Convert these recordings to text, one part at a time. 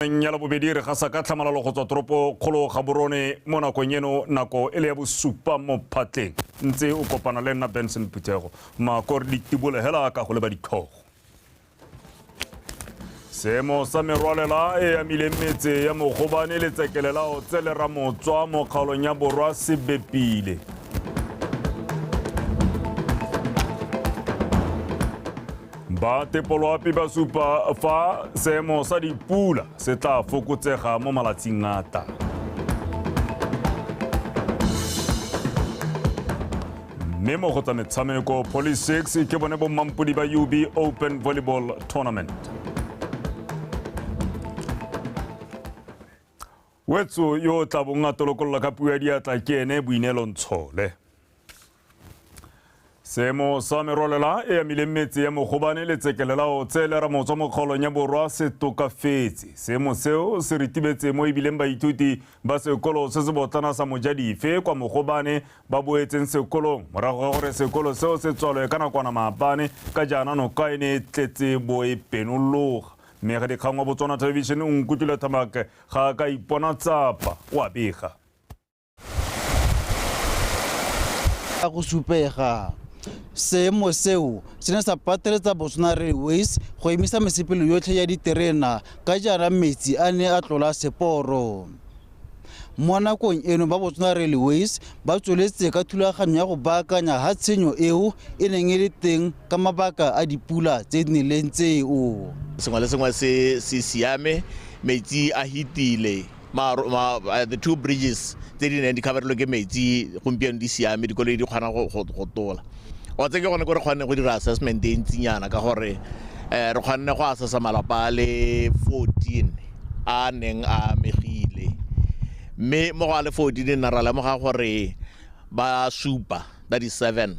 meng ya labobedi re gasa ka tlhamalalo go tswa toropo kgolo gaborone mo nakong eno nako e le ya bosupa mo phatleng ntse o kopana le nna benson phuthego makore ditibole hela ka go leba ditlhogo seemo sa merwalela e amileng metse ya mogobane le tsekele la otse le ramotswa mo kgaolong ya borwa se bepile Ba tepoloapi ba supa fa seemo sa dipula se tla fokotsega mo malatsing a tang. mme mo go tsa metshameko poly 6 ke bone bommampodi ba ub open volleyball tournament Wetso yo o tla bong a tolokolola ka puo ya diatla ke ene Boineelo Ntshole. Seemo sa merwalela e amileng metse ya Mogobane le Tsekelelao tse le ramotswa mo kgaolong ya Borwa se tokafetse. Seemo seo se ritibetse mo ebileng baithuti ba sekolo se se botlana sa Mojadife kwa Mogobane ba boetseng sekolong morago ga gore sekolo seo se tswalwe ka nakwana maabane ka jaana noka e ne e tletse bo e penologa. Mme ga dikgang wa Botswana Television o nkutlwile Thamak Ga a ka ipona tsapa, o a bega. Ka go supega, seemo seo se ne sa pateletsa Botswana Railways go emisa mesepelo yotlhe ya diterena ka jaana metsi a ne a tlola seporo. Mo nakong eno ba Botswana Railways ba tsweletse ka thulaganyo ya go baakanya ha tshenyo eo e neng e le teng ka mabaka a dipula tse di neleng tseo. Sengwe le sengwe se se siame metsi a hitile the two bridges tse di neng di coverelwe ke metsi gompieno di siame dikoloi di kgona go tola o tse ke gone ko re kgonne go dira assessment e ntsinyana ka gore um re kgonne go assessa malapa a le fourteen a neng a amegile mme mo go a le fourteen nna ra lemoga gore ba supa ba di seven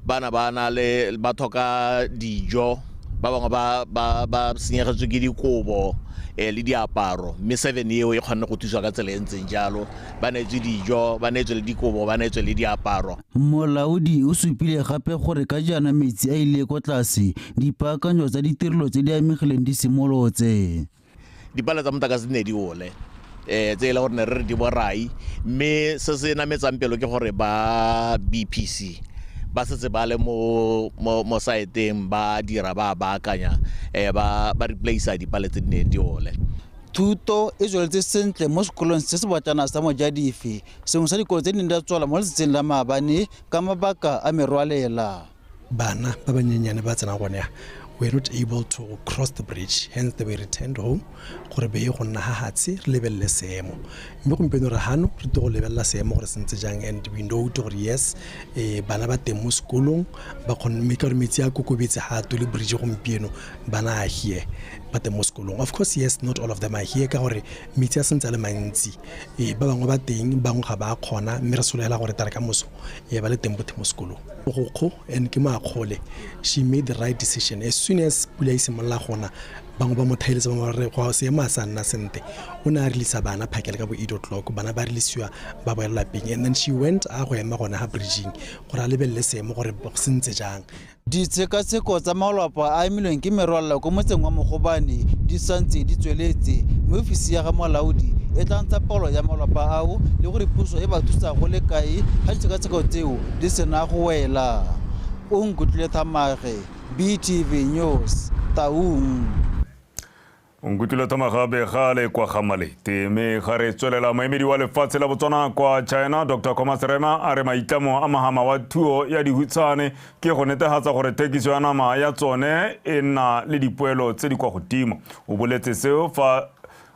bana ba na le ba tlhoka dijo ba bangwe ba ba ba senyegetswe ke dikobo eh, le diaparo mme seven eo e kgonne go thusa ka tsela e ntseng jalo ba neetswe dijo ba neetswe le dikobo ba neetswe le diaparo Molaodi o supile gape gore ka jaana metsi a ile kwa tlase, dipaakanyo tsa ditirelo tse di amegileng di simolotse. Dipale tsa motlakase di ne di ole um tse e le gore ne re re di borai mme se se nametsang pelo ke gore ba bpc ba setse ba le mo saeteng ba dira ba baakanya um ba replacer dipale tse di neng di ole thuto e tsweletse sentle mo sekolong se se botlana sa mojadife sengwe sa dikolo tse di neng di a tswala mo letsatsing la maabane ka mabaka a merwalela bana ba banyenyane ba tsena gone ya we're not able to cross the bridge hence they were returned home gore be go nna ga gatshe re lebelele seemo mme gompieno re gano re to go lebelela seemo gore sentse jang and we know to gore yes um bana ba teng mo sekolong ba kgonne mme ka gore metsi a kokobetse ga a tole bridge gompieno bana a here ba teng mo sekolong of course yes not all of them are here ka gore metsi a sentse a le mantsi Ee, ba bangwe ba teng bangwe ga ba kgona mme re solegela gore tare ka moso e ba le teng bothe mo sekolong mogokgo and ke moakgole she made the right decision as soon as pula e simolola gona bangwe ba mo thaeletse bangwe ba re go seemo a sa nna sente o ne a releasa bana phakele ka bo eight o'clock bana ba releasiwa ba boela lapeng and then she went a go ema gona ga bridging gore a lebelele seemo gore se ntse jang Ditshekatsheko tsa malwapa a amilweng ke merwalela kwa motseng wa Mogobane di santse di tsweletse mme ofisi ya ga molaodi e tla ntsha palo ya malwapa ao le gore puso e ba thusa go le kae ga ditshekatsheko tseo di sena go wela. O nkutlwile Thamage, BTV News, Taung. Nkutile Thomagabe ga le kwa ga Malete mme ga re tswelela moemedi wa lefatshe la Botswana kwa China Dr Comas Rema a re maitlamo a mahama wa thuo ya dihutshane ke go netegatsa gore thekiso ya nama ya tsone e nna le dipoelo tse di kwa godimo o boletse seo fa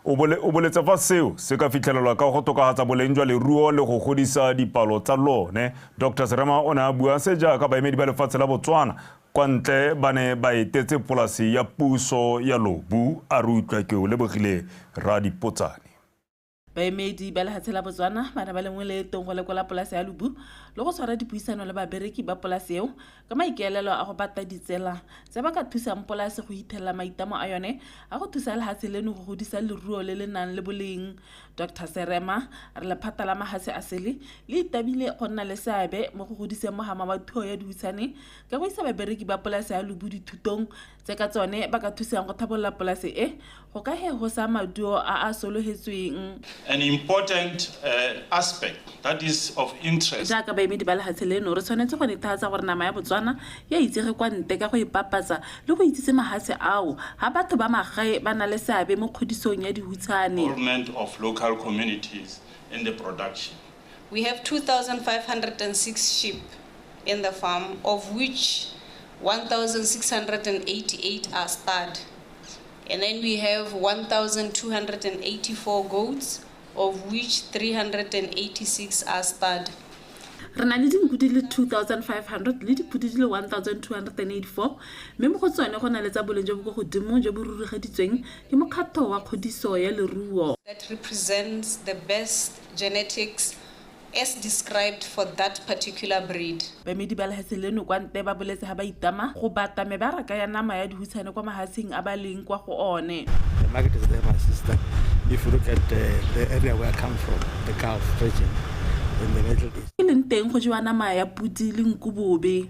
o boletse fa seo se ka fitlhelelwa ka go tokagatsa boleng jwa leruo le go godisa dipalo tsa lone dr serema o ne a bua se jaaka baemedi ba lefatshe la botswana Kwa ntle ba ne ba etetse polasi ya puso ya Lobu, a re utlwa ke o lebogile Rra Dipotsane. Baemedi ba lehatshe la Botswana ba ne ba lengwe leetong go lekola polase ya Lobu le go tshwara dipuisano le babereki ba polase eo ka maikaelelo a go bata ditsela tse ba ka thusang polase go hithelela maitamo a yone a go thusa lehatshe leno go godisa leruo le le nang le boleng. Doctor Serema re lephata la mahatshe a sele le itabile go nna le seabe mo go godiseng mogama wa thuo ya dihutshane ka go isa babereki ba polase ya Lubu dithutong tse ka tsone ba ka thusang go thabolola polase e go ka he go sa maduo a a sologetsweng. An important uh, aspect that is of interest. Jaaka baemedi ba lehatshe leno, re tshwanetse go nethatsa gore nama ya Botswana ya itsege kwa nte ka go e papatsa le go itsise mahatshe ao ha batho ba magae ba na le seabe mo kgodisong ya dihutshane. Of local communities in the production. We have 2,506 sheep in the farm, of which 1,688 are stud. And then we have 1,284 goats, of which 386 are stud. re na le dinku di le 2500 le dipodi di le 1284 mme mo go tsone go na le tsa boleng jo bo ko godimo jo bo rurugeditsweng ke mokgatlho wa kgodiso ya leruo that represents the best genetics as described for that particular breed. Baemedi ba lehase leno kwa nte ba boletse ha ba itama go bata mebaraka ya nama ya dihutshane kwa mahasing a ba leng kwa go one. The market is there, my sister. If you look at the, the area where I come from, the Gulf region, in the Middle East. E leng teng go jewa nama ya podi le nku bobe.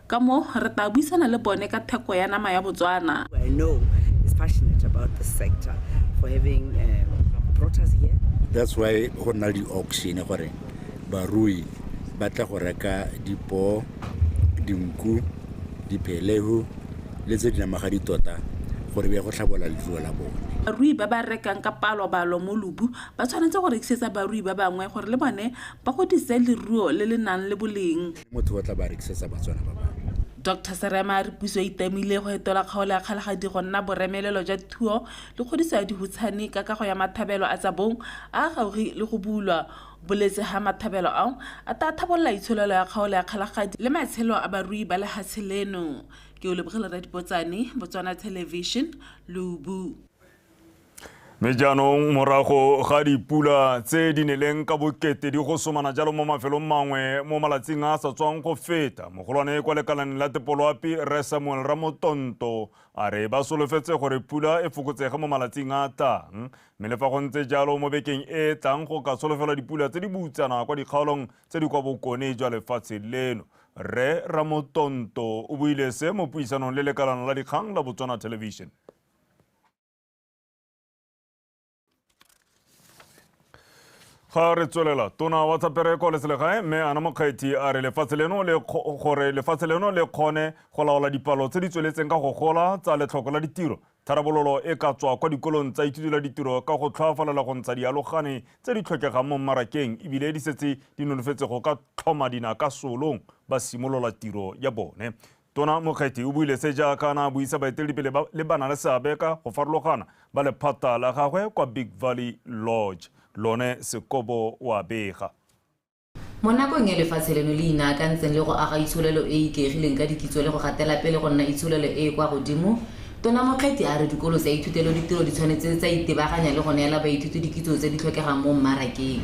Ka moo, re tlaa buisana le bone ka theko ya nama ya Botswana. who I know is passionate about this sector for having um, brought us here. that's why go nna le di-auction gore barui ba tla go reka dipoo dinku diphelego le tse di namagadi tota gore be go tlhabola leruo la bone Barui ba ba rekang ka palobalo mo Lubu ba tshwanetse go rekisetsa barui ba bangwe gore le bone ba godise leruo le le nang le boleng. le motho ba tla ba rekisetsa batswana ba bangwe Dr Serema a re puso e itamile go etola kgaolo ya kgalagadi go nna boremelelo jwa thuo le kgodiso ya dihutshane ka kago ya mathabelo a tsa bong a a gaugi le go bulwa boletse ga mathabelo ao a ta thabolola itsholelo ya kgaolo ya kgalagadi le matshelo a barui ba lehatshe leno ke o lebogele radipotsane botswana television lubu Mme jaanong morago ga dipula tse di neleng ka bokete di go somana jalo mo mafelong mangwe mo malatsing a a sa tswang go feta mogolwane kwa lekalaneng la tepoloapi re samuel ramotonto a re ba solofetse gore pula e fokotsege mo malatsing a a tlang mme le fa go ntse jalo mo bekeng e e tlang go ka solofelwa dipula tse di boutsana kwa dikgaolong tse di kwa bokone jwa lefatshe leno rre ramotonto o buile se mo puisanong le lekalano la dikgang la botswana television ga re tswelela tona wa tsa pereko le selegae mme ana mokgwethi a re lefatshe leno le gore lefatshe leno le kgone go laola dipalo tse di tsweletseng ka go gola tsa letlhoko la ditiro tharabololo e ka tswa kwa dikolong tsa ithuti la ditiro ka go tlhoafalela go ntsha dialogane tse di tlhokegang mo mmarakeng ebile di setse di nonofetse go ka tlhoma dina ka solong ba simolola tiro ya bone Tona Mokgethi o buile se jaaka na buisa baeteledipele ba le ba na le seabe ka go farologana ba lephata la gagwe kwa Big Valley Lodge. Lone Sekobo o a bega. Mo nakong e lefatshe leno le inaakantseng le go aga itsholelo e e ikaegileng ka dikitso le go gatela pele go nna itsholelo e e kwa godimo, Tona Mokgethi a re dikolo tsa ithuteloditiro di tshwanetse tsa itebaganya le go neela baithuti dikitso tse di tlhokegang mo mmarakeng.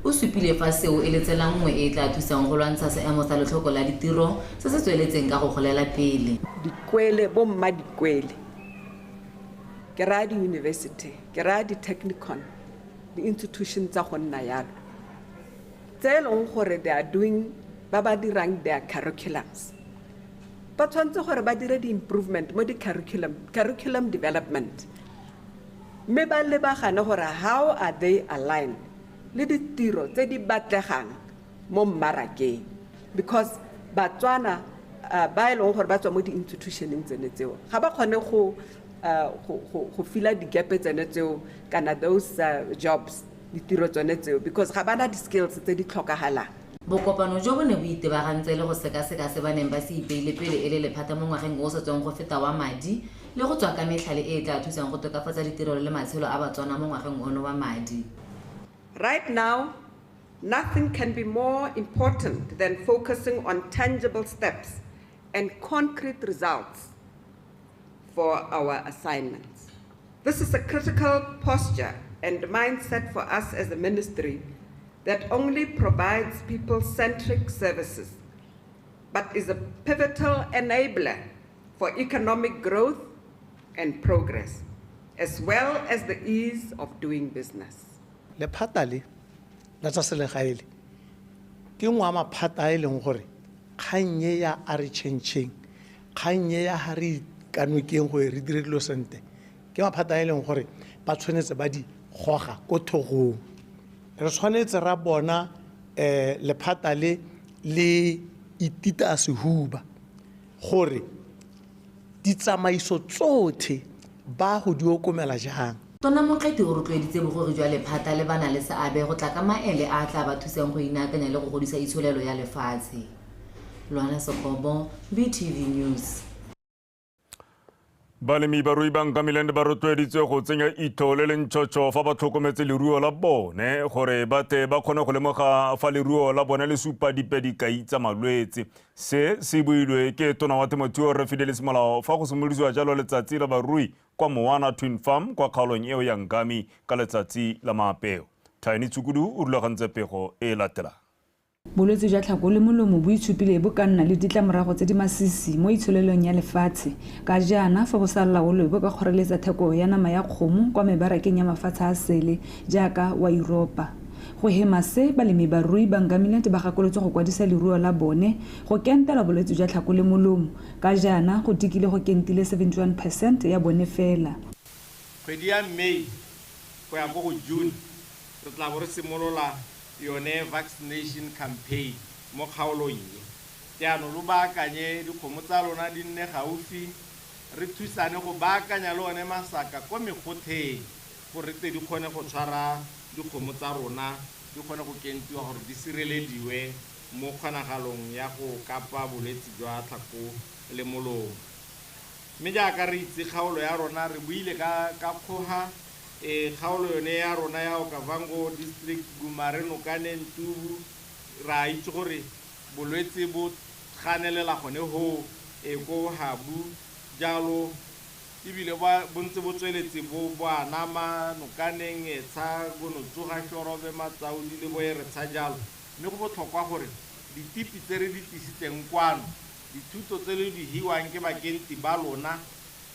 O supile fa seo e le tsela nngwe e e tla thusang go lwantsha seemo sa letlhoko la ditiro se se tsweletseng ka go golela pele. Dikwele, bomma dikwele, ke raya diyunibesithe, ke raya di-technicon, di-institution tsa go nna yalo, tse e leng gore they are doing, ba ba dirang their curriculums, ba tshwanetse gore ba dire di-improvement mo di-curriculum, curriculum development. mme ba lebagane gore how are they aligned le ditiro tse di batlegang mo mmarakeng because Batswana uh, ba e leng gore ba tswa mo di-institutioneng tsene tseo ga ba kgone go uh, go, go, go fila digepe tsene tseo kana those uh, jobs ditiro tsone tseo because ga bana di-skills tse di tlhokagalang bokopano jo bo ne bo itebagantse le go sekaseka se ba neng ba se ipeile pele e le lephata mo ngwageng o o sa tswang go feta wa madi le go tswa ka metlhale e e tla thusang go tokafatsa ditirelo le matshelo a Batswana mo ngwageng ono wa madi. Right now, nothing can be more important than focusing on tangible steps and concrete results for our assignments. This is a critical posture and mindset for us as a ministry that only provides people-centric services but is a pivotal enabler for economic growth and progress, as well as the ease of doing business. Lephata le la tsa selegae le ke nngwe ya maphata a e leng gore kgang e ya a re chentšheng kgang e ya ga re ikanokeng gore re dire dilo sentle ke maphata a e leng gore ba tshwanetse ba di goga ko thogong re tshwanetse ra bona um lephata le le itita sehuba gore ditsamaiso tsotlhe ba go di okomela jang. Tona Motleti o rotloeditse bogori jwa lephata le ba na le seabe go tla ka maele a a tla ba thusang go inaakanya le go godisa itsholelo ya lefatshe. Luana Sekobo, BTV News. Balemi ba rui ba Nkamiland ba rotloeditswe go tsenya itho le lentšhotšho fa ba tlhokometse leruo la bone gore ba tle ba kgone go lemoga fa leruo la bone le supa dipe dikai tsa malwetse. Se se builwe ke tona wa temothuo Rre Fidelis Molao fa go simolodiwa jalo letsatsi la barui kwa Moana Twin Farm kwa kgaolong eo ya Nkami ka letsatsi la maapeo. Tiny Tshukudu o rulagantse pego e latelang. Bolwetse jwa tlhako le molomo bo itshupile bo ka nna le ditlamorago tse di masisi mo itsholelong ya lefatshe. Ka jaana, fa bo sa laolwe bo ka kgoreletsa theko ya nama ya kgomo kwa mebarakeng ya mafatshe a sele jaaka wa Yuropa. Go hema se, balemibarui ba Ngamiland ba gakolotswe go kwadisa leruo la bone go kentela bolwetse jwa tlhako le molomo, ka jaana go tikile go kentile 71 percent ya bone fela. Kgwedi ya May go ya ko go June Re tla bo re simolola yone vaccination campaign mo kgaolong e. Jaanong lo baakanye dikgomo tsa lona di nne gaufi, re thusane go baakanya le one masaka ko megotheng gore re tle di kgone go tshwara dikgomo tsa rona, di kgone go kentiwa gore di sirelediwe mo kgonagalong ya go kapa bolwetse jwa tlhako le molomo. Mme jaaka re itse kgaolo ya rona re buile ka ka kgoga, e kgaolo yone ya rona ya Okavango District, Gumare, Nokane, Ntubu, re a itse gore bolwetse bo ganelela gone hoo e ko Habu, jalo e bile ba bo ntse bo tsweletse bo bo anama Nokaneng, Etsha, Gonotsuga, Shorobe, Matsaudi le bo Eretsha jalo, mme go botlhokwa gore ditipi tse re di tlisitseng kwano, dithuto tse le di hiwang ke bakenti ba lona,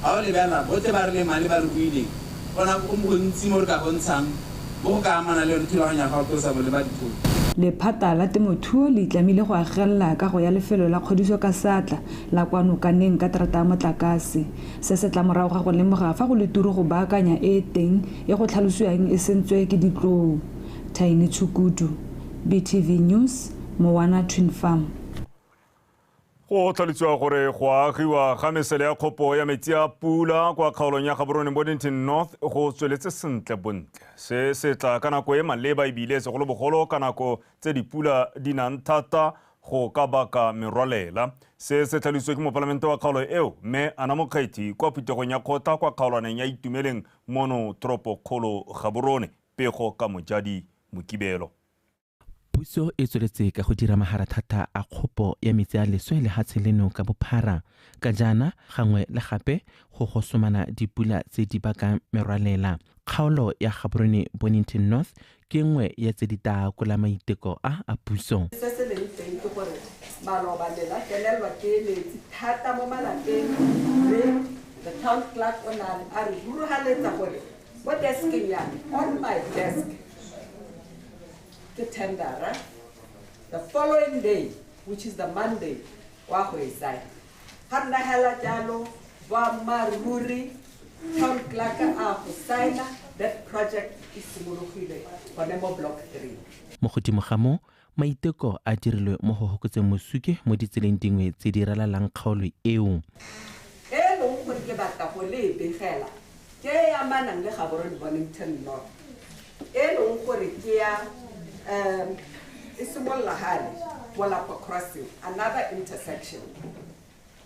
Ga o lebelela botlhe ba re leng male ba re buileng, go na go gontsi mo re ka bontshang mo go ka amanang le yone thulaganyo ya gago tlosa boleba dithoto. Lephata la temothuo le itlamile go agelela kago ya lefelo la kgodiso ka seatla la kwa Nokaneng ka terata ya motlakase. Se se tla morago ga go lemoga fa go le turu go baakanya e e teng e go tlhalosiwang e sentswe ke ditlou. Thaini Tshukudu, BTV News, Mowana Twin Farm. go tlhalosiwa gore go agiwa ga mesele ya kgopo ya metsi a pula kwa kgaolong ya gaborone bodington north go tsweletse sentle bontle se se tla ka nako e maleba ebile segolobogolo ka nako tse dipula di nang thata go ka baka merwalela se se tlhalositswe ke mopalamente wa kgaolo eo mme ana mokgethi kwa phuthegong ya kgotla kwa kgaolwaneng ya itumeleng mono toropokgolo gaborone pego ka mojadi mokibelo puso e tsweletse ka go dira maharathata a kgopo ya metsi a leswe lehatshe leno ka bophara ka jaana gangwe le gape go gosomana dipula tse di bakang merwalela kgaolo ya gaborone bonington north ke nngwe ya tse di taakola maiteko a a puso se se leng teng ke gore maloba le la felelwa ke metsi thata mo malapeng mme the town clerk o ne a re rurugaletsa gore mo deskeng ya me on my desk ke tendera the following day which is the monday wa go e sign ga nna hela jalo boammaaruri town clerk a go signa that project e simologile gone mo block three mo godimo ga moo Maiteko a dirilwe mo go hokotseng mosuke mo ditseleng dingwe tse di ralalang kgaolo eo. e e leng gore ke batla go le e begela ke e e amanang le Gaborone Bonington North e e leng gore ke ya um e simolola gale Molapa Crossing, another intersection.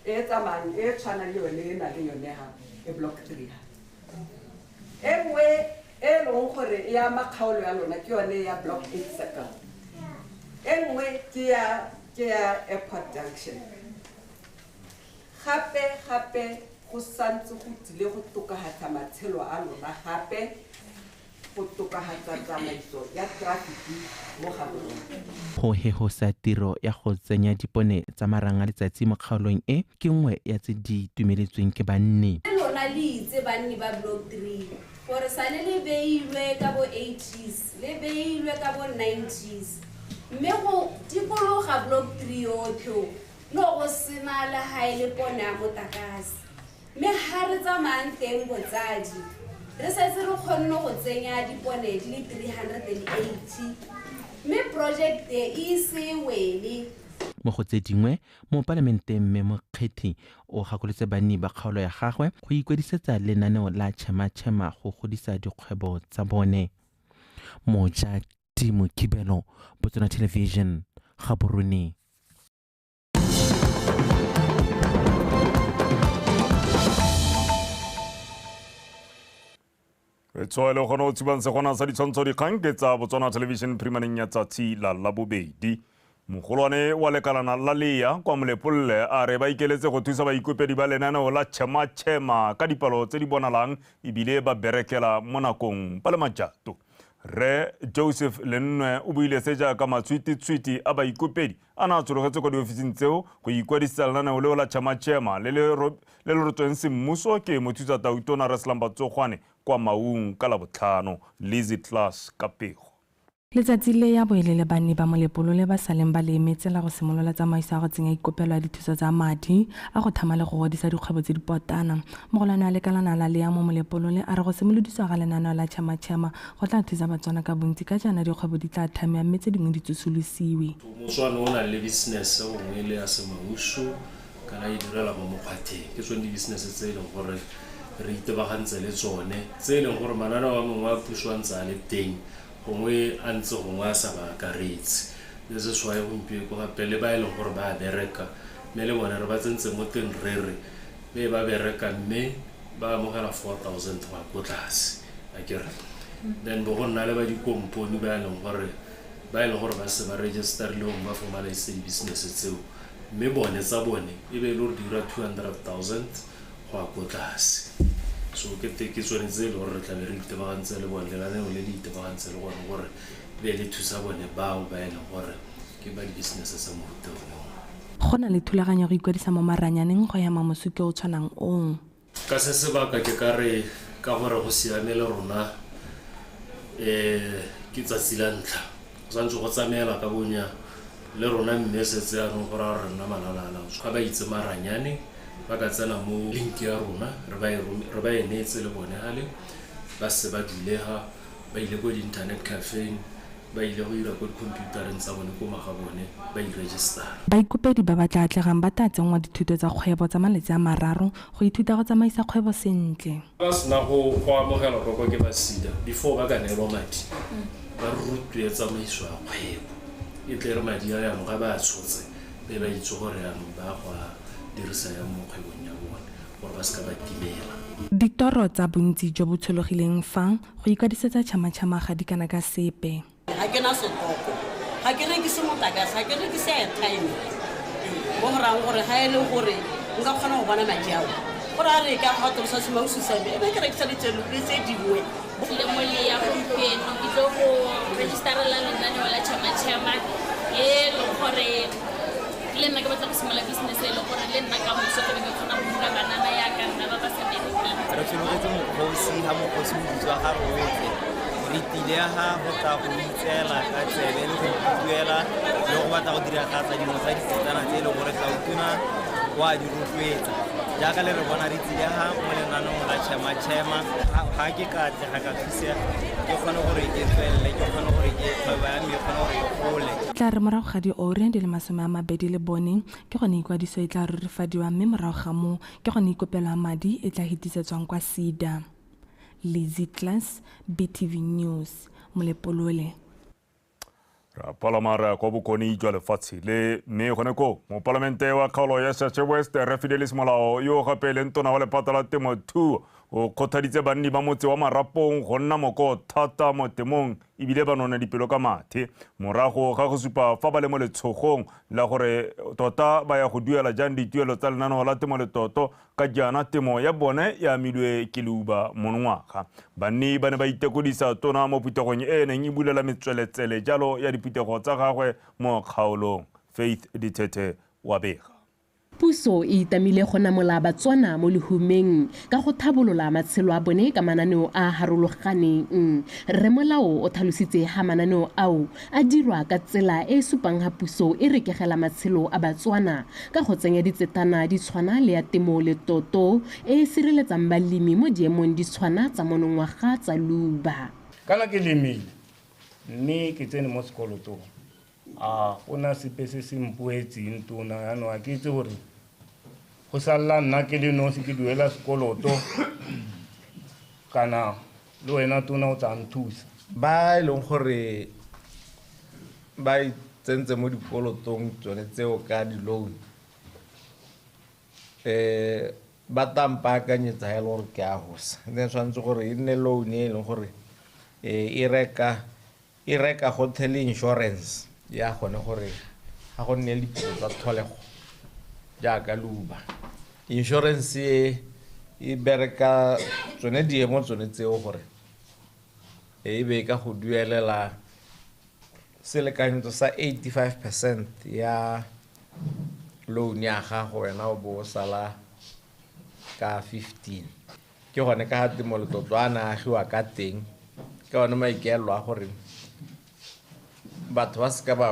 e e tsamayang e e tshwanang le yone e na le yone ha e block three ha e nngwe e leng gore e ama kgaolo ya lona ke yone ya block eight circle e nngwe ke ya ke ya airport junction gape gape go santse go tsile go tokagatsa matshelo a lona gape go tokagatsa tsamaiso ya trafiki mo Gaborone. Go hehosa tiro ya go tsenya dipone tsa marang a letsatsi mo kgaolong e ke nngwe ya tse di itumeletsweng ke banni. Mme lona le itse banni ba Block Three gore sane le beilwe ka bo eighties, le beilwe ka bo nineties, mme go dikologa Block Three yotlhe o, no go sena le ga e le pone ya motakase. Mme ga re tsamayang teng botsadi, re setse re kgonne go tsenya dipone di le 380 mme porojekte e ise e wele. Mo go tse dingwe, Mopalamenteng Mme Mokgethi o gakolotse banni ba kgaolo ya gagwe go ikwadisetsa lenaneo la Chema Chema go godisa dikgwebo tsa bone. Mojadimokibelo, Botsona Television, Gaborone. re tshoa le gone o tshubang segona sa ditshwantsho dikgang ke tsa botswana television primaneng ya tsatsi la labobedi mogolwane wa lekalana la leya kwa molepolole a re ba ikeletse go thusa baikopedi ba lenaneo la chema-chema ka dipalo tse di bonalang ebile ba berekela mo nakong ba le majato re joseph lennwe o buile se jaaka matshwititshwiti a baikopedi a na a tshologetse kwa diofising tseo go ikwadisetsa lenaneo leo la Chama-Chema le le ro- le le rotsweng semmuso ke mothusa tautona Reslam Batsogwane kwa Maung ka Labotlhano. Lizzy Class ka pego. Letsatsi le ya bo e le lebanni ba molepolole ba saleng ba le emetse la go simolola tsamaiso ya go tsenya ikopelo ya dithuso tsa madi a go thama le go godisa dikgwebo tse dipotlana. Mogolwane wa lekalana la Leamo Molepolole a re go simolodiswa ga lenaneo la Chama-Chema Go tla thusa Batswana ka bontsi ka jaana dikgwebo di tla thamiwa mme tse dingwe di tsosolosiwe. Motswana o nang le business gongwe le ya semausu kana a idirela mo mokgwatheng, ke tsone di-business tse e leng gore re itebagantse le tsone, tse e leng gore mananeo a mangwe a puso a ntse a le teng gongwe a ntse gongwe a sa ba akaretse. This is why gompieko gape le ba e leng gore ba a bereka mme le bone re ba tsentse mo teng re re, le ba bereka mme ba amogela 4000 go ya ko tlase akere then bo go nna le ba dikompone ba e leng gore ba e leng gore ba se ba registerleng ba formaliseng business tseo mme bone tsa bone e be e le gore di dira 200000 go ya ko tlase so ke te ke tsone tse e le gore re tlabe re itebagantse le bone lenaneo le le itebagantse le gone gore be le thusa bone bao ba e leng gore Ke ba dibisinese tsa mofuta one oo. Go na le thulaganyo ya go ikwadisa mo maranyaneng go hema mosuki o o tshwanang oo. Ka se sebaka ke ka re ka gore go siame le rona ke tsatsi la ntlha go santse go tsamaela ka bonya le rona mme setse anong go raya gore re nna malala a laotswe ga ba itse maranyane ba ka tsena mo link ya rona re ba e neetse le bone gale ba se ba dulega ba ile ko di-internet cafeng Ba ile go ira ko dikhomphiutareng tsa bone ko magabone ba iregistara. Baikopedi ba ba tla atlegang ba tla tsenngwa dithuto tsa kgwebo tsa malatsi a mararo go ithuta go tsamaisa kgwebo sentle. Ba sena go go amogelwa kwa kwa ke ba SEDA before ba ka neelwa madi ba rutwe tsamaiso ya kgwebo e tle re madi a yanong ga ba a tshotse be ba itse gore yanong ba go a dirisa yang mo kgwebong ya bone gore ba seka ba timela. Ditoro tsa bontsi jo bo tshologileng fa Go ikwadisetsa tšhamatšhama ga di kana ka sepe. Ga ke na setoko, ga ke rekise motlakase, ga ke rekise airtime. Mo go rayang gore ga e le gore nka kgona go bona madi ao, go raya re ka ga tolosa semausu sa me, e be ke rekisa ditselo le tse dingwe. Lemole ya gompieno ke tlo go register-ela lenaneo la tšhamatšhama e leng gore le nna ke batla go simolola business e le gore le nna ka moso ke ke kgona go dira banana ya ka nna ba ba sa bereke re sologetse mokgosi ga mokgosi o bitswa ga roege re tile ga go tla go itseela ka tsebe le go ikuela le go batla go dira tlatsa dingwe tsa ditsetsana tse e leng gore gautuna o a di rotloetsa jaaka le re bona re tsile ga mo lenanong la chema chema ga ke ka tle ga ka tla re morago ga diore di le masome a mabedi le bone ke gone ikwadiso e tla rurifadiwa mme morago ga moo ke gone ikopelwa madi e tla hetisetswang kwa sida lizzy class btv news molepolole re a palama re ya kwa bokone jwa lefatshe le mme gone koo mopalamente wa kgaolo ya shashe west re fidelis molao yo o gape e leng tona wa lephata la temothuo o kgothaditse banni ba motse wa marapong go nna moko thata mo temong ebile ba none dipelo ka mathe morago ga go supa fa ba le mo letshogong la gore tota ba ya go duela jang dituelo tsa lenaneo la temo letoto Ka jaana temo ya bone e amilwe ke leuba monongwaga. Banni ba ne ba itekodisa tona mo phuthegong e e neng e bulela metsweletsele jalo ya diphuthego tsa gagwe mo kgaolong. Faith Dithethe o a bega. Puso e itamile go namola Batswana mo lehumeng ka go thabolola matshelo a bone ka mananeo a a harologaneng. Rre Molao o tlhalositse ha mananeo ao a dirwa ka tsela e e supang ha puso e rekegela matshelo a Batswana ka go tsenya ditsetana di tshwana le ya temo le toto e e sireletsang balemi mo diemong di tshwana tsa monongwaga tsa luba. Kana ke lemile mme ke tsene mo sekolotong, a go na sepe se se mpoetseng tona? Jaanong a ke itse gore go salela nna ke le nosi ke duela sekoloto kana Le wena tona o tla nthusa. Ba e leng gore ba tsentse mo dikolotong tsone tseo ka di-loan um ba tla mpaakanyetsa ha e le gore ke a gosa ne tshwanetse gore e nne loan e leng gore e reka E reka gothe le insurance ya gone gore ga go nne le diphitlho tsa tlholego jaaka leuba. Insurance e e bereka tsone diemo tsone tseo gore e be e ka go duelela selekanyetso sa 85 percent ya loan ya gago wena o bo o sala ka 15. ke gone ka ga temolotlotlo a na agiwa ka teng ka one maikaelelo a gore batho ba seka ba,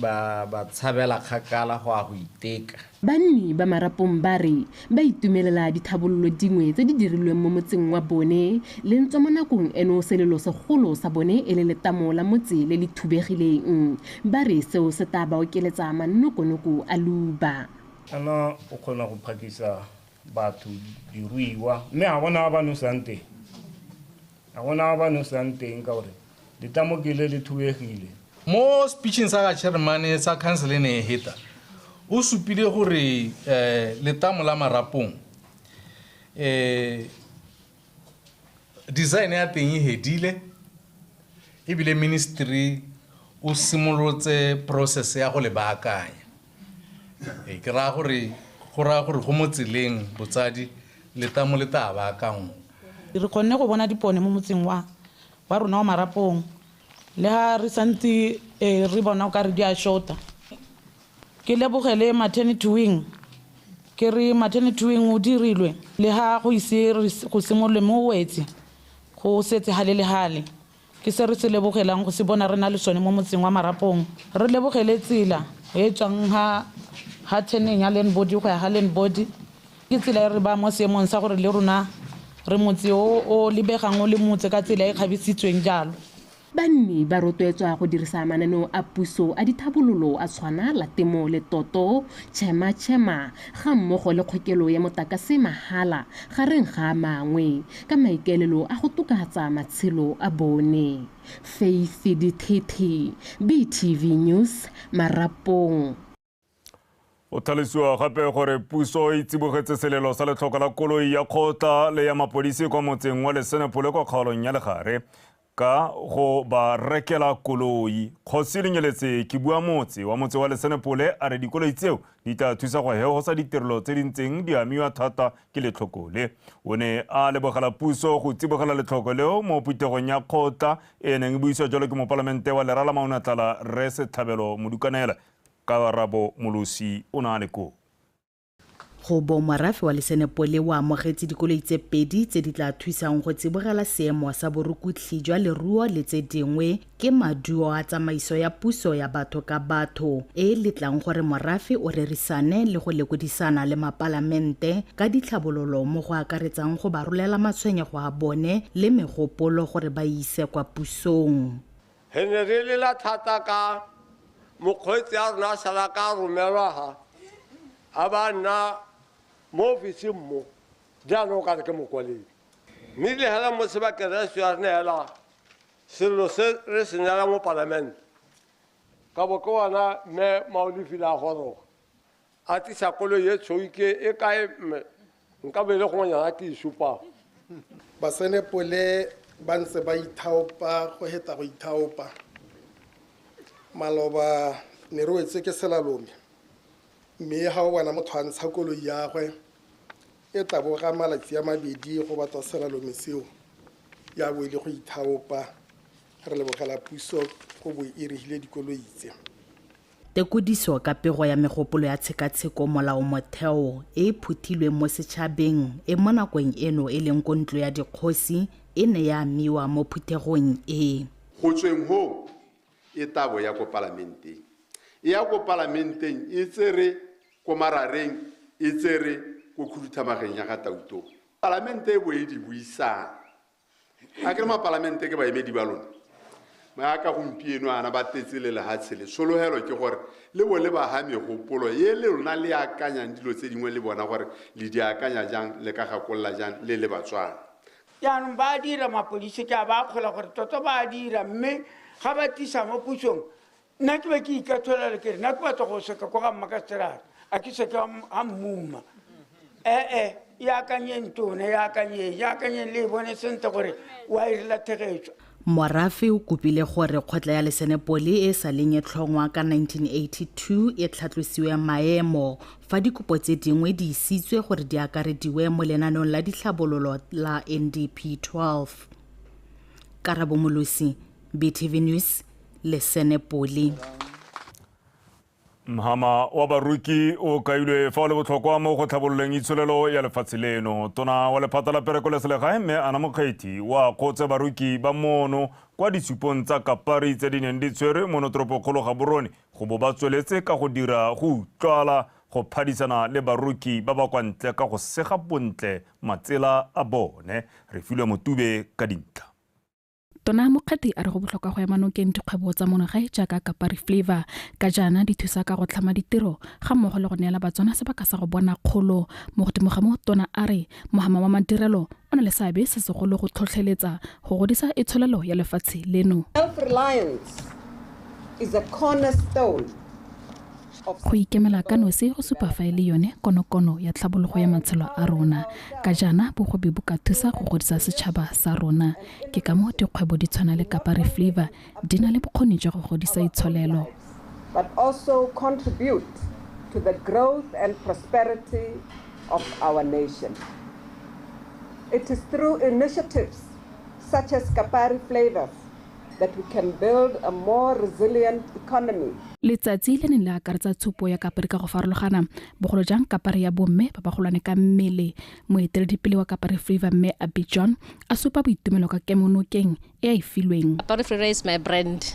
ba, ba tshabela kgakala go a go iteka Banni ba Marapong ba re ba itumelela dithabololo dingwe tse di dirilweng mo motseng wa bone le ntse mo nakong eno selelo segolo sa bone e le letamo la motse le le thubegileng. Ba re seo se tla ba okeletsa manokonoko a luba. Ana o kgona go phakisa batho diruiwa mme ga gona ba ba nosang teng ga gona ba ba nosang teng ka gore letamo ke le le thubegile mo speeching sa ga chairmane sa council e ne e heta o supile gore um letamo la marapong um Design ya teng e hedile ebile ministry o simolotse process ya go le baakanya. Ee, ke raya gore go raya gore go mo tseleng botsadi letamo le tla baakanngwa. Re kgonne go bona dipone mo motseng wa wa rona wa Marapong le ha re santse re bona o ka re di a short-a. Ke lebogele Maternity Wing ke re Maternity Wing o dirilwe le ha go ise re go simolole mo wetse go setse hale le hale. Ke se re se lebogelang go se bona re na le sone mo motseng wa Marapong. Re lebogele tsela e tswang ha ha turn-eng ya Land Body go ya ha Land Body ke tsela e re ba mo seemong sa gore le rona re motse o o lebegang o le motse ka tsela e kgabisitsweng jalo. Banni ba rotloetswa go dirisa mananeo a puso a dithabololo a tshwana la temo le toto, chema chema, ga mmogo le kgokelo ya motakase mahala, gareng ga a mangwe, ka maikaelelo a go tokahatsa matshelo a bone. Faith Dithethe, BTV News, Marapong. O tlhalosiwa gape gore puso e tsibogetse selelo sa letlhoko la koloi ya kgotla le ya mapodisi kwa motseng wa lesenepole kwa kgaolong ya legare ka go ba rekela koloi kgosi lenyeletse ke bua motse wa motse wa lesenepole a re dikoloi tseo di tla thusa go hegosa ditirelo tse di ntseng di amiwa thata ke letlhoko le o ne a lebogela puso go tsibogela letlhoko leo mo phuthegong ya kgotla e neng e buisiwa jalo ke mopalamente wa lerala maunatala re setlhabelo modukanela Karabo Molosi o ne a le koo. Go bo morafe wa Lesenepole o amogetse dikoloi tse pedi tse di tla thusang go tsibogela seemo sa borukutlhi jwa leruo le tse dingwe ke maduo a tsamaiso ya puso ya batho ka batho e e letlang gore morafe o rerisane le go lekodisana le mapalamente ka ditlhabololo mo go akaretsang go ba rolela matshwenyego a bone le megopolo gore ba e ise kwa pusong. Re ne re lela thata ka mokgweetsi a rona a sala ka romelwa ha a ba nna mo ofising mo jaanong o kare ke mokwaledi mme le hela mo sebakereso ya re neela selelo se re se neela mo palamente ka bo ke ona mme maolefile a goroga A tlisa koloi e tshweu ke e kae mme? Nka bo e le gongwenyana ke e supago. Basenepole ba ntse ba ithaopa go heta go ithaopa. Maloba ne re wetswe ke selalome mme ga o bona motho a ntsha koloi yagwe e taboga malatsi a mabedi go batwa selalome seo ya bo e le go ithaopa. Re lebogela puso go bo e re hile dikoloi tse. Tekodiso ka pego ya megopolo ya tshekatsheko molaomotheo e e phuthilweng mo setšhabeng e mo nakong eno e leng ko Ntlo ya Dikgosi e ne ya amiwa mo phuthegong e. Go tsweng hoo, e tabo ya ko Palamenteng. E ya ko Palamenteng e tsere ko marareng, e tsere ko khuduthamageng ya ga Tautoo. Palamente e bo e di buisang a ke re mapalamente ke baemedi ba lona ba ka gompieno ana ba tetse le lehatshe le sologelo ke gore le bo le baga megopolo ye le lona le akanyang dilo tse dingwe le bona gore le di akanya jang le ka gakolola jang le le batswana jaanong ba dira mapodisi ke a ba akgola gore tota ba dira mme ga ba tisa mo pusong nna ke be ke ikatholela kere nna ke batla go seka ko ga mma ka serata a ke seke ga mmuma ee e akanyeng tone e akanyeng e akanyeng le e bone sentle gore wa e rela thegetso Morafe o kopile gore kgotla ya lesenepole e sa leng e tlhongwa ka 1982 e tlhatlosiwe maemo fa dikopo tse dingwe di isitswe gore di akarediwe mo lenanong la ditlhabololo la NDP 12. Karabo Molosi, btv news le senepoli mhama wa baruki o kailwe fa o le botlhokwa mo go tlhabololeng itsholelo ya lefatshe leno tona wa lephata la pereko le selegae mme ana mokgethi wa kgotse baruki ba mono kwa ditshupong tsa kapari tse di neng di tshwere mono toropokgolo ga borone go bo ba tsweletse ka go dira go utlwala go phadisana le baroki ba ba kwa ntle ka go sega bontle matsela a bone re filwe motube ka dintlha Tona Mokgati a re go botlhokwa go ema nokeng dikgwebo tsa monogae jaaka Kapari Flavor ka jaana di thusa ka go tlhama ditiro ga mmogo le go neela Batswana sebaka sa go bona kgolo. Mo godimo ga mo, Tona a re mohama wa madirelo o na le seabe se segolo go tlhotlheletsa go godisa itsholelo ya lefatshe leno. Self-reliance is a cornerstone. Go ikemela ka nosi go supa fa e le yone konokono ya tlhabologo ya matshelo a rona. Ka jaana bogobe bo ka thusa go godisa setšhaba sa rona. Ke ka moo dikgwebo di tshwana le Kapari Flavour di na le bokgoni jwa go godisa itsholelo. but also contribute to the growth and prosperity of our nation. It is through initiatives such as Kapari Flavours that we can build a more resilient economy. Letsatsi le ne le akaretsa tshupo ya Kapari ka go farologana, bogolo jang Kapari ya bomme ba bagolwane ka mmele. Moeteledipele wa Kapari Freeva Mme Abby John a supa boitumelo ka kemonokeng e a e filweng. Kapari Freeva is my brand.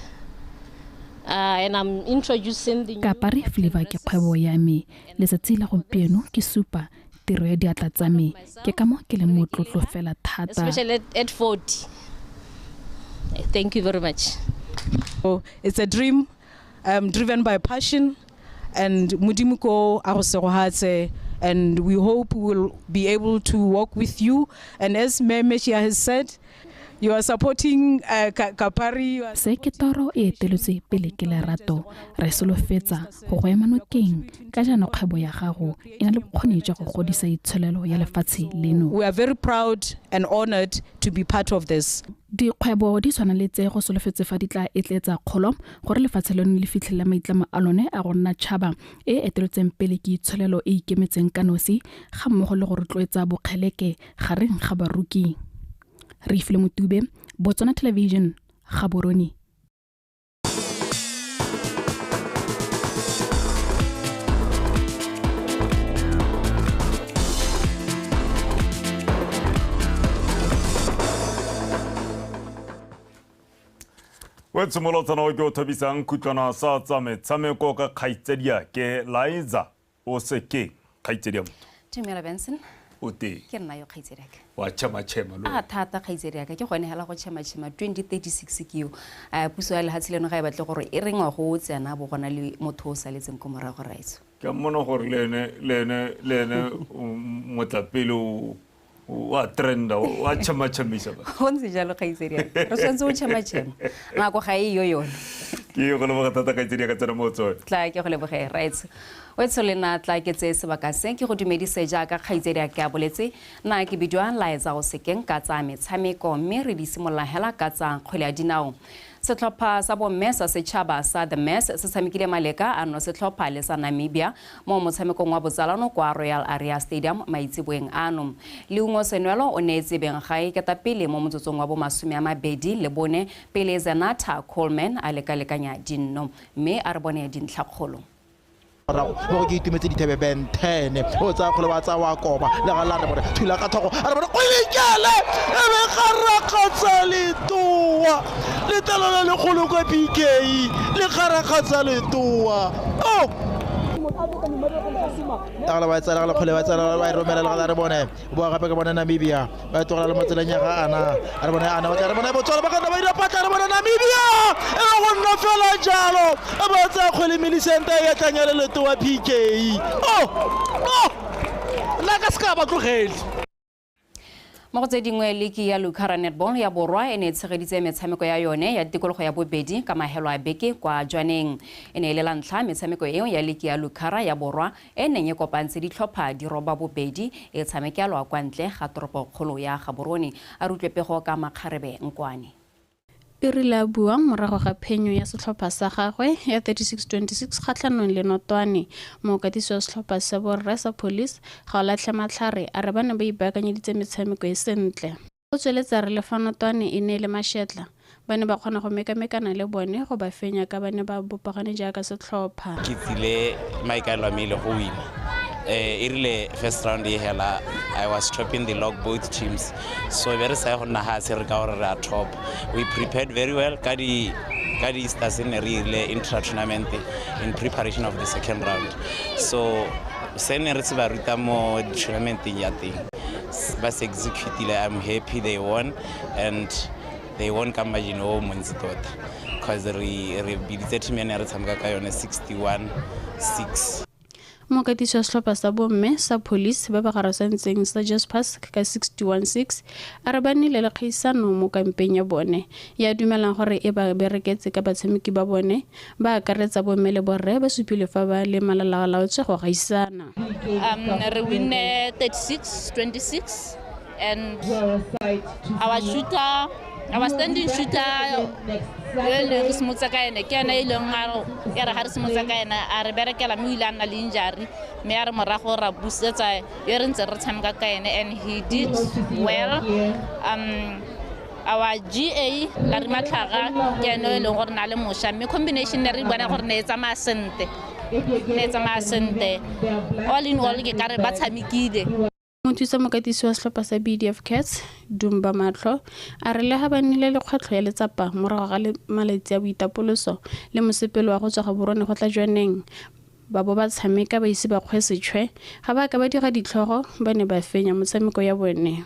Uh, and I'm introducing the Kapari Freeva ke kgwebo ya me. Letsatsi la gompieno ke supa tiro ya diatla tsa me ke ka mo ke leng motlotlo fela thata thank you very much oh, it's a dream um, driven by passion and modimo ko a go segogatse and we hope we will be able to walk with you and as Meme has said You are supporting uh, Kapari. You are... Se ke toro e eteletswe pele ke lerato re solofetsa go go ema nokeng ka jaana kgwebo ya gago e na le bokgoni jwa go godisa itsholelo ya lefatshe leno. We are very proud and honored to be part of this. Dikgwebo di tshwana le tse go solofetse fa di tla etletsa kgolo gore lefatshe leno le fitlhelele maitlamo a lone a go nna tšhaba e eteletseng pele ke itsholelo e ikemetseng ka nosi ga mmogo le go rotloetsa bokgeleke gareng ga baroki re ifile motube botswana television ga boroni o tshimolotsana o ke o thabisang khutlwana sa tsa metshameko ka kgaitsadiake liza o seke kgaitsedi ya motho dumela benson o teng ke nna yo kgaitsedi aka wa chema-chema lo a thata kgaitsedi aka ke gone hela go chema-chema 2036 ke yo a puso ya lehatshe leno ga e batle gore e rengwa go o tsena bo gona le motho o saletseng ko morago raetso ke mmona gore le ene- le ene- le ene um, motlapele o wa trenda wa tšhamatšhamisa ba go ntse jalo kgaitsedi re tshwanetse go tšhamatšhema ngako ga e yo yone ke go leboga thata kgaitsedi ya ka tsena mo tsone tla ke go leboge rights wetso le na tla ke tse sebaka se ke go dumedise jaaka kgaitsedi ya ke a boletse na ke bidiwa laetsa go sekeng ka tsa metshameko mme re di simolola hela ka tsa kgwele ya dinao Setlhopha sa bomme sa setšhaba sa The Mass se tshamekile maleka a nosetlhopha le sa Namibia mo motshamekong wa botsalano kwa Royal Aria Stadium maitseboeng ano. Leungo Senwelo o neetse Benggae ketapele mo motsotsong wa bomasome a mabedi le bone pele Zenatha Coleman a lekalekanya dinno. Mme a re bone dintlhakgolo. morago mo go ke itumetse dithebe ben ten o tsaya kgole wa tsaya wa koba le ga la re bone thula ka thogo a re bone o ikele e be ga rakgatsa letoa letelo le legolo kwa bk le ga rakgatsa letoa o agala ba tsala gala kgole ba tsala ba e romelela gala re bone boa gape ka bone namibia ba tlogela le mo tseleng ya ga ana a re bone ana ba tla re bone botswalo ba kana ba dira patla re bone namibia e ba go nna fela jalo e ba tsaya kgwele milisente ya tlang ya leleto wa pk o oh! o oh! nna ka seka ba tlogele mo go tse dingwe liki ya lucara netball ya borwa e ne e tshegeditse metshameko ya yone ya tikologo ya bobedi ka magelo a beke kwa jwaneng e ne e le la ntlha metshameko eo ya liki ya lucara ya borwa e neng e kopantse ditlhopha di roba bobedi e tshamekelwa kwa ntle ga toropokgolo ya Gaborone, a re utlwe pego ka makgarebe nkwane. E rile a bua morago ga phenyo ya setlhopha sa gagwe ya 36-26 kgatlhanong le Notwane, mookatisi wa setlhopha se, Borre sa Police Gaolatlhe Matlhare, a re ba ne ba ipaakanyeditse metshameko e sentle. O tsweletsa re le fa notwane e ne e le mashetla, ba ne ba kgona go mekamekana le bone go ba fenya ka ba ne ba bopagane jaaka setlhopha. Ke tsile maikaelelo a me e le go wina. E rile first round e hela, I was topping the log both teams. So be re sa ye go nna hatshe re ka gore re a top. We prepared very well ka di ka di Easters ne re irile intra tournament in preparation of the second round. So se ne re se ba ruta mo tournamenteng ya teng. ba se executile i'm happy they won and they won ka margin o montsi tota because re re biditse team yane ya re tshameka ka yone 61 6 mokatisi wa setlhopha sa bomme sa police ba ba garasantseng sa jaspers ka 616 a re ba nnile le kgaisano mo kampeng ya bone ya dumelang gore e ba bereketse ka batshameki ba bone Ba akaretsa bomme le borre ba supilwe fa ba le malalalaotswe go gaisana. Um, re winne 36, 26 and our shooter our standing shooter yo e leng re simotsa ka ene ke ene e leng a re ga re simotsa ka ene a re berekela mme o ile a nna le injury mme a re morago ra busetsa yo re ntse re tshameka ka ene and he did well um our GA la re matlhaga ke ene e leng gore na le mosha mme combination ne re bona gore ne e tsamaya sente ne e tsamaya sente all in all ke kare ba tshamekile mothusa mokatisi wa setlhopha sa bdf cats dumba matlho a re lega ba nnile le kgwetlho ya letsapa morago ga le malatsi a boitapoloso le mosepelo wa go tswa ga borone go tla jwaneng ba bo ba tshameka ba ise ba kgwe setšhwe ga ba ka ba dira ditlhogo ba ne ba fenya motshameko ya bone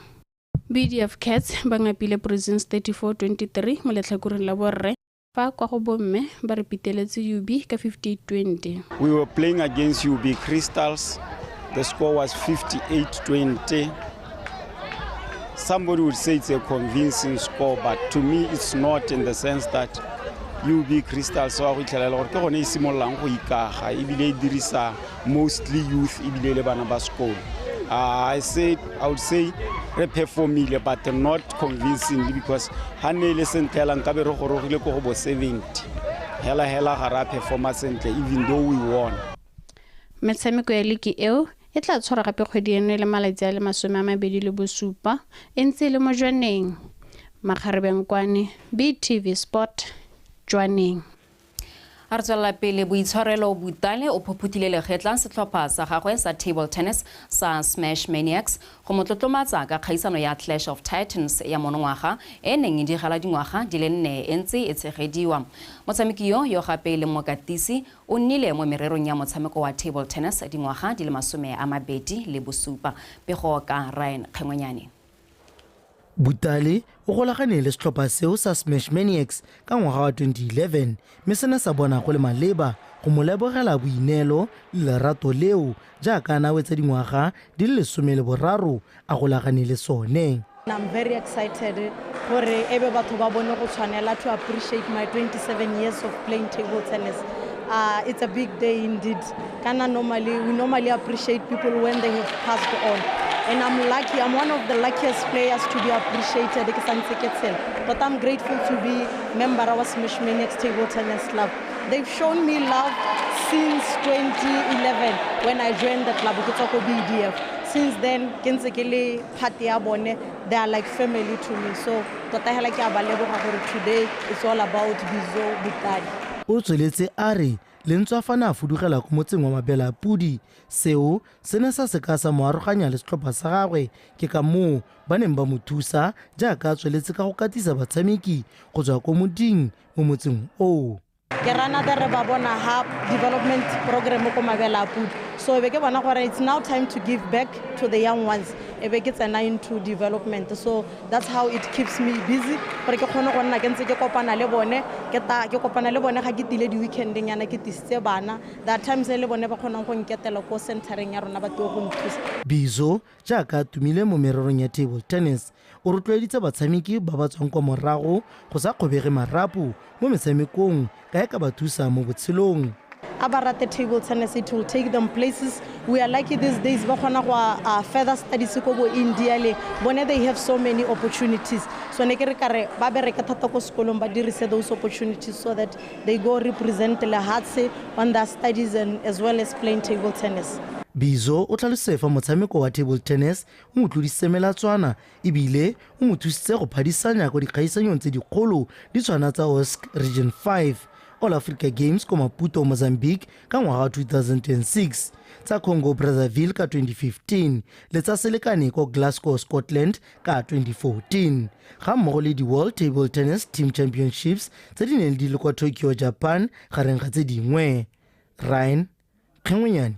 BDF Cats ba ngapile Prisons 34-23 mo letlhakoreng la borre fa kwa go bomme ba re piteletse UB ka 58-20. We were playing against UB Crystals. The score was 58-20. Somebody would say it's a convincing score, but to me it's not in the sense that UB Crystals wa go itlhelela gore ke gone e simololang go ikaga ebile e dirisa mostly youth ebile le bana ba sekolo uh, I said I would say re performile but not convincingly because ha ne le sentle hela nkabe re gorogile ko go bo 70 hela hela ga ra performa sentle even though we won metshameko ya liki eo e tla tshwara gape kgwedi eno e le malatsi a le masome a mabedi le bosupa e ntse e le mo jwaneng makgarebeng kwane btv sport jwaneng A re tswelela pele, Boitshwarelo Butale o phophothile legetla setlhopha sa gagwe sa table tennis sa Smash Maniacs go mo tlotlomatsa ka kgaisano ya Clash of Titans ya monongwaga e e neng e digala dingwaga di le nne e ntse e tshegediwa. Motshameki yo, yo gape e leng mokatisi, o nnile mo mererong ya motshameko wa table tennis dingwaga di le masome a mabedi le bosupa. Pego ka Ryan Kgengwenyane. Butale o golagane le setlhopha seo sa Smash Maniacs ka ngwaga wa 2011 mme se ne sa bona go le maleba go mo lebogela boineelo le lerato leo jaaka a nawetsa dingwaga di le lesome le boraro a golagane le sone. I'm very excited gore ebe batho ba bone go tshwanela to appreciate my 27 years of playing table tennis. Uh, it's a big day indeed. Kana normally, we normally appreciate people when they have passed on. And I'm lucky, I'm one of the luckiest players to be appreciated. Ke santse ke tshela. But I'm grateful to be member of our Smash Maniacs Table Tennis Club. They've shown me love since 2011 when I joined the club, ke tswa ko BDF. Since then, ke ntse ke le part ya bone. They are like family to me. So, tota hela ke a ba leboga gore today it's all about Bizo Butadi. O tsweletse a re Lentswa fa ne a fudugela ko motseng wa Mabelapodi, seo se ne sa se ka sa mo aroganya le setlhopha sa gagwe ke ka moo ba neng ba mo thusa jaaka a tsweletse ka go katisa batshameki go tswa ko moding mo motseng oo. ke rana the re ba bona ha development program ko mabelapodi so e be ke bona gore it's now time to give back to the young ones e be ke tsena into development so That's how it keeps me busy gore ke kgone go nna ke ntse ke kopana le bone ke ta ke kopana le bone ga ke tile di weekendeng yana ke tisitse bana there are times e le bone ba kgonang go nketela ko centereng ya rona ba tlo go nthusa Bizo, jaaka a tumile mo mererong ya table tennis, o rotloeditse batshameki ba ba tswang kwa morago go sa kgobege marapo mo metshamekong ka e ka ba thusa mo botshelong. a ba rate table tennis it will take them places we are lucky these days ba kgona go uh, further studies ko bo india le bone they have so many opportunities so ne ke re kare ba bereke thata ko sekolong ba dirise those opportunities so that they go represent lehatshe on their studies and as well as playing table tennis bizo o tlhalose fa motshameko wa table tennis o mo tlodise melatswana e bile o mo thusitse go phadisanya kwa dikgaisanyong tse dikgolo di tshwana tsa osc region 5 all africa games kwa maputo mozambique ka ngwaga wa 2006 tsa congo brazzaville ka 2015 le tsa selekane kwa glasgow scotland ka 2014 ga mmogo le di-world table tennis team championships tse di neng di le kwa tokyo japan gareng ga tse dingwe ryan kgengwenyane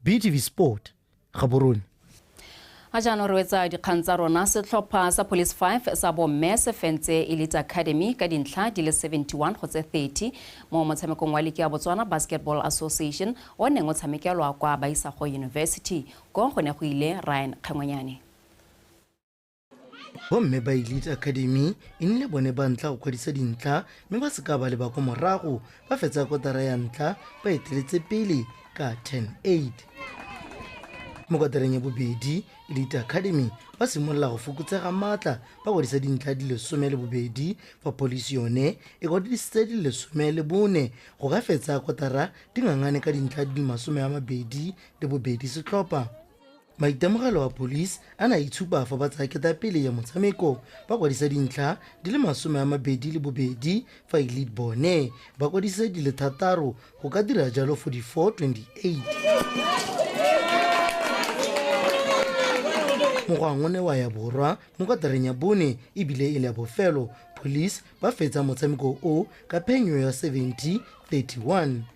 btv sport gaborone a jaanong re wetsa dikgang tsa rona setlhopha sa police 5 sa bomme se fentse elite academy ka dintlha di le 71 go tse 30 mo motshamekong wa liki ya botswana basketball association o neng o tshamekelwa kwa baisago university ko go ne go ile ryan kgengwenyane bomme ba elite academy e nnile bone ba ntla go kwadisa dintlha mme ba seka ba leba ko morago ba fetsa kotara ya ntlha ba eteletse pele ka 108 mo kotareng ya bobedi elite academy ba simolola go fokotsega maatla ba kwadisa dintlha di lesome le bobedi fa polisi yone e kwadisitse di lesome le bone go ka fetsa kotara dingangane ka dintlha di le masome a mabedi le bobedi setlhopha Maitemogelo a police a ne a itshupa fa ba tsaya ketapele ya motshameko ba kwadisa dintlha di le masome a mabedi le bobedi fa e lead bone ba kwadise di le thataro go ka dira jalo 44-28. Mogwang o ne wa ya borwa mo kotareng ya bone ebile e le ya bofelo police ba fetsa motshameko o ka phenyo ya 70-31.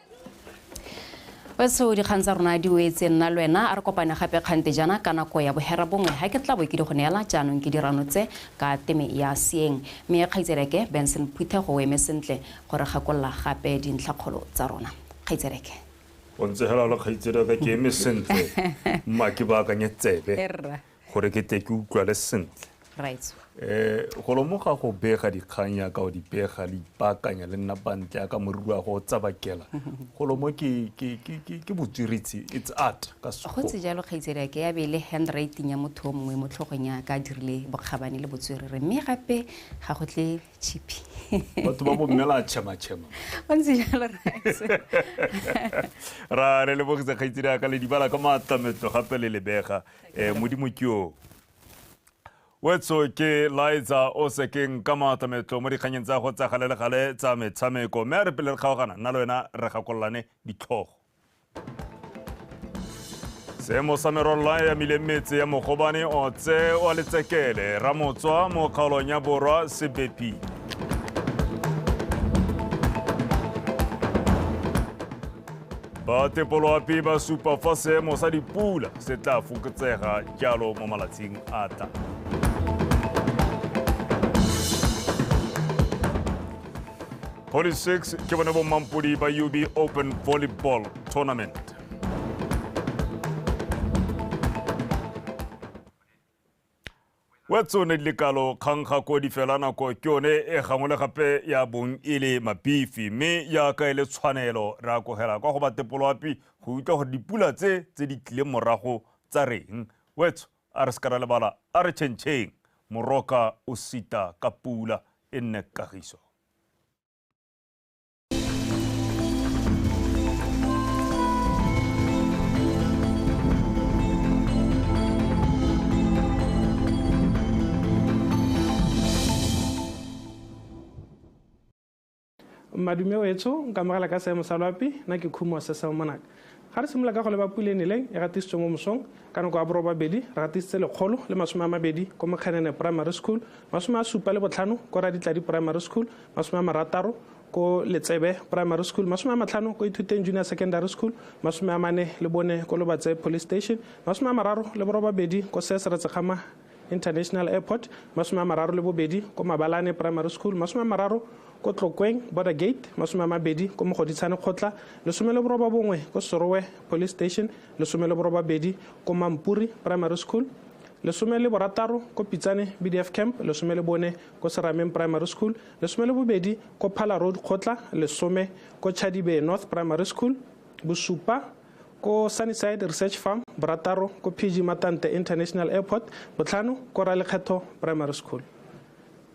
wetso dikgang tsa rona di wetse nna le wena a re kopane gape kgante jana ka nako ya bohera bongwe ga ke tla bo ke di go neela jaanong ke dirano tse ka teme ya seeng mme kgaitsereke benson phuthego o eme sentle gore gakolola gape dintlhakgolo tsa rona kgaitsereke o ntse hela le kgaitsereke ke eme sentle mma ke baakanye tsebe gore ke tle ke utlwale sentle raitso um go lomoga go bega dikgang yaka o di pega le ipaakanya le nna bantle yaka moriri wa go o tsabakela go lomo ke ke- ke- ke- ke botswiritsi it's art ka go sekgoa tse jalo kgaitsedi ke ya be e le handwriting ya motho o mongwe mo tlhogong ya ka a dirile bokgabane le botswerere mme gape ga go tle chipi batho ba bommela a tšhematšhema o ntse jalo raitso ra re lebogisa kgaitsedi yaka le dibala ka maatlametlo gape le lebega ee modimo ke yo wetso ke laetsa o sekeng ka maata metlo mo dikganyeng tsa go tsa gale le gale tsa metshameko mme a re pele re kgaogana nna le wena re gakololane ditlhogo seemo sa merolola ya mile metse ya mogobane otse wa letsekele ramotswa mo kgaolong ya borwa sebepi ba tepolo ape ba supa fa seemo sa dipula se tla fokotsega jalo mo malatsing a tla Holy Six ke bone bo mampodi ba UB Open Volleyball Tournament. Wetso ne di le kalo kgang ga kodi fela nako ke yone e gangwe le gape ya bong e le mapifi mme jaaka e le tshwanelo re a kogela kwa go batepoloapi go utlwa gore dipula tse tse di tlileng morago tsa reng. Wetso a re se ka ra lebala a re tšhentšheng moroka o sita ka pula e nne kagiso. madume wetso nkamogela ka seemo sa loapi nna ke khumo se sa monaka Ga re simolola kago leba pula e neleng e gatisitswe mo mosong ka nako ya borobabedi, re gatisitse lekgolo le masome a mabedi ko Mokgenene Primary School, masome a supa le botlhano ko Raditladi Primary School, masome a marataro ko Letsebe Primary School, masome a matlhano ko Ithuteng Junior Secondary School, masome a mane le bone ko Lobatse Police Station, masome a mararo le borobabedi ko Sesere Tsekgama International Airport, masome a mararo le bobedi ko Mabalane Primary School, masome a mararo ko Tlokweng Border Gate, masome a mabedi ko Mogoditshane Kgotla, lesome le boroba bongwe ko Sorowe Police Station, lesome le boroba bedi ko Mampuri Primary School, lesome le borataro ko Pitsane BDF Camp, lesome le bone ko Serameng Primary School, lesome le bobedi ko Phala Road Kgotla, lesome ko Chadibe North Primary School, bosupa ko Sunnyside Research Farm, borataro ko PG Matante International Airport, botlhano ko Ralekgetho Primary School.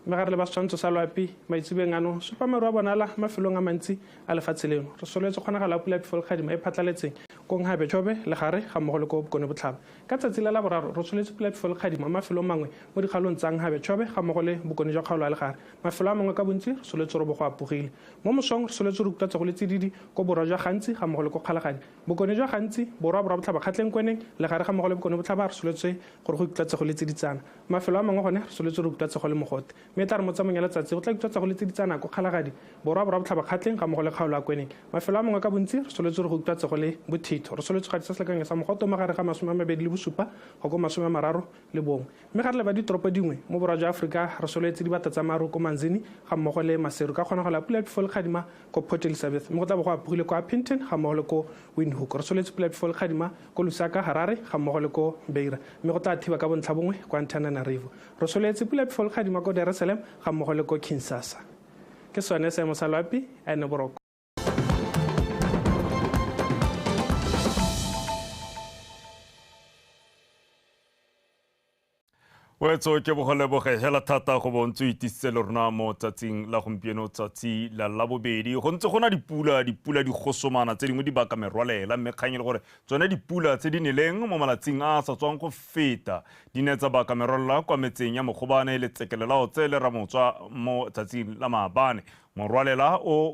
Mme ga re le ba setshwantsho sa loapi maitsebeng ano, supa maru a bonala mafelong a mantsi a lefatshe leno. Re soletse kgonagalo ya pula pifolkgadima e phatlaletseng ko Nghabe Chobe le gare ga mmogo le ko Bokone Botlhaba. Ka tsatsi la laboraro re soletse pula pifolkgadima mo mafelong mangwe mo dikgaolong tsa Nghabe Chobe ga mmogo le Bokone jwa kgaolo ya legare. Mafelo a mangwe ka bontsi re soletse robo go apogile. Mo mosong re soletse re utlwa tsogo le tsididi ko borwa jwa Gantsi ga mmogo le ko Kgalaganya. Bokone jwa Gantsi, borwa borwa botlhaba Kgatlengkweneng, legare ga mmogo le bokone botlhaba re soletswe gore go utlwa tsogo le tsiditsana. Mafelo a mangwe gone re soletswe re utlwa tsogo le mogote. Mme e tla re mo tsamong ya letsatsi go tla utlwa tsogo le tsiditsana ko Kgalagadi, borwa borwa botlhaba Kgatleng ga mmogo le Kgaolwakweneng. Mafelo a mangwe ka bontsi re soletswe re go utlwa tsogo le bothitho. Re soletswe gadisa selekanyo sa mogote o magare ga masome a mabedi le bosupa go ko masome a mararo le bongwe, mme ga re leba ditoropo dingwe mo borwa jwa Aforika re solwetse dibata tsa maru ko Manzini ga mmogo le Maseru ka kgonagalo ya pula ya phefo le kgadima ko Port Elizabeth mme go tla bo go apogile ko Upington ga mmogo le ko Windhoek. Re solwetse pula ya phefo le kgadima ko Lusaka, Harare ga mmogo le ko Beira mme go tla thiba ka bontlhabongwe ko Antananarivo. Re solwetse pula ya phefo le kgadima ko Dar es Salaam ga mmogo le ko Kinsasa. Ke sone seemo sa loapi, a ene boroko. wetso ke bogoleloboge hela thata go bontse o itisitse le rona mo tsatsing la gompieno tsatsi la labobedi go ntse go na dipula dipula di gosomana tse dingwe di baka merwalela mme kgang e le gore tsone dipula tse di neleng mo malatsing a a sa tswang go feta di ne tsa baka merwalela kwa metseng ya mogobane le tsekelelao tse le ramotswa mo tsatsing la maabane morwalela o